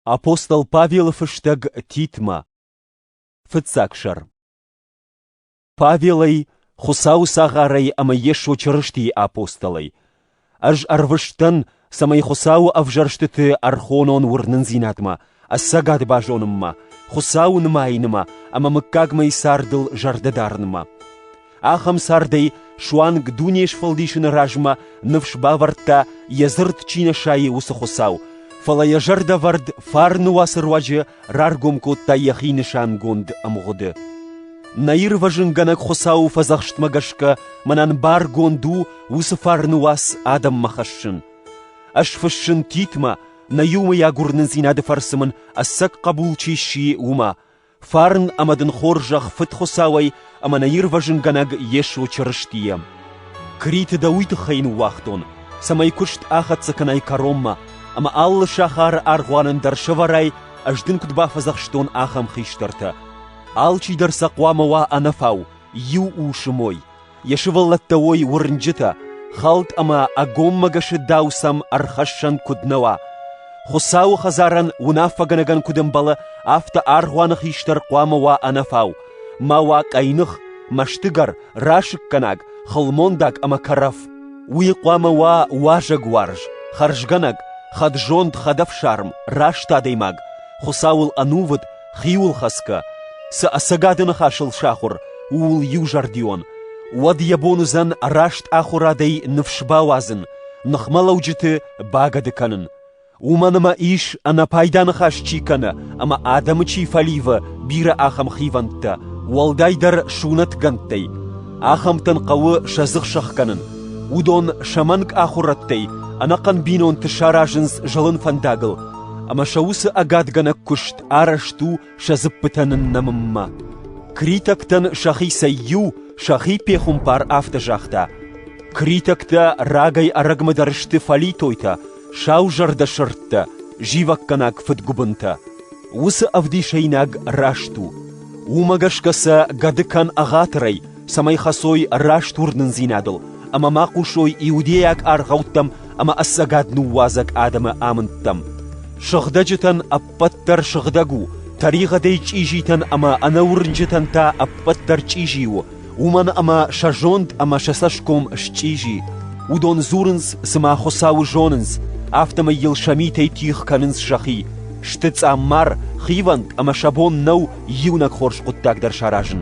Апостол Павелы фыстӕг Титмӕ Фыццаг сӕр Павелӕй, Хуыцауы цагъарӕй ӕмӕ Йесо Чырыстийы апостолӕй, ӕз ӕрвыст дӕн, цӕмӕй Хуыцауы ӕвзӕрстыты ӕрхонон уырнындзинадмӕ, ӕцӕгад базонынмӕ, Хуыцауы нымайынмӕ ӕмӕ мыггагмӕйы цардыл зӕрдӕ дарынмӕ. Ахӕм цардӕй суанг дуне сфӕлдисыны размӕ ныфс бавӕрдта, йӕ дзырд чи нӕ сайы, уыцы Хуыцау, фӕлӕ йӕ зӕрдӕвӕрд фарны уацы руаджы раргом кодта йӕхи нысангонд ӕмгъуыды. Нӕ ирвӕзынгӕнӕг Хуыцауы фӕдзӕхстмӕ гӕсгӕ мӕнӕн баргонд у уыцы фарны уац адӕммӕ хӕссын. Ӕз фыссын Титмӕ, нӕ иумӕйаг уырнындзинады фӕрцы мын ӕцӕг хъӕбул чи сси, уымӕ, Фарн ӕмӕ дын хорзӕх Фыд Хуыцауӕй ӕмӕ нӕ Ирвӕзынгӕнӕг Йесо Чырыстийӕ. Криты дӕ уый тыххӕй ныууагътон, цӕмӕй куыст ахӕццӕ кӕнай кӕронмӕ, ӕмӕ алы сахары аргъуанӕн дӕр сӕвӕрай, ӕз дын куыд бафӕдзӕхстон, ахӕм хистӕртӕ. Алчидӕр сӕ хъуамӕ уа ӕнӕфау, иу ус мой. Йӕ сывӕллӕттӕ уой уырнджытӕ, хӕлд ӕмӕ ӕгоммӕгӕсы дау сӕм ӕрхӕссӕн куыд нӕ уа. Хуыцауы хӕдзарӕн уынаффӕгӕнӕгӕн куыд ӕмбӕлы, афтӕ аргъуаны хистӕр хъуамӕ уа ӕнӕфау, ма уа къӕйных, мӕстыгӕр, расыггӕнаг, хылмондаг ӕмӕ кӕрӕф. Уый хъуамӕ уа уазӕгуарз, хӕрзгӕнӕг, хӕдзонд, хӕдӕфсарм, раст адӕймаг, Хуыцауыл ӕнувыд, Хиуылхӕцгӕ, цы ӕцӕгады ныхасыл сахуыр, ууыл иузӕрдион, уӕд йӕ бон уыдзӕн раст ахуырадӕй ныфс бауадзын, ныхмӕлӕуджыты багӕды кӕнын, уымӕн ӕмӕ ис ӕнӕпайда ныхас чи кӕны ӕмӕ адӕмы чи фӕливы бирӕ ахӕм хивӕндтӕ, уӕлдайдӕр сунӕтгӕндтӕй. Ахӕмтӕн хъӕуы сӕ дзых сӕхгӕнын. Уыдон сӕ мӕнг ахуырӕдтӕй ӕнӕхъӕн бинонты саразынц зылын фӕндагыл, ӕмӕ сӕ уыцы ӕгадгӕнӕг куыст арӕзт у сӕ дзыппытӕ ныннӕмынмӕ. Критӕгтӕн сӕхицӕй иу сӕхи пехуымпар афтӕ загъта: «Критӕгтӕ рагӕй-ӕрӕгмӕ дӕр сты фӕлитойтӕ, саузӕрдӕ сырдтӕ, зивӕггӕнаг фыдгуыбынтӕ. Уыцы ӕвдисӕйнаг раст у. Уымӕ гӕсгӕ сӕ гӕды кӕн ӕгъатырӕй, цӕмӕй хӕцой раст уырнындзинадыл ӕмӕ ма хъусой иудейаг аргъӕуттӕм ӕмӕ ӕцӕгад ныууадзӕг адӕмы амындтӕм. Сыгъдӕджытӕн ӕппӕт дӕр сыгъдӕг у, тӕригъӕдӕй чъизитӕн ӕмӕ ӕнӕуырнджытӕн та ӕппӕт дӕр чъизи у, уымӕн ӕмӕ сӕ зонд ӕмӕ сӕ цӕсгом счъизи. Уыдон дзурынц, цыма Хуыцауы зонынц, афтӕмӕй йыл сӕ митӕй тигъ кӕнынц сӕхи. Сты цъаммар, хивӕнд ӕмӕ сӕ бон нӕу иунӕг хорз хъуыддаг дӕр саразын.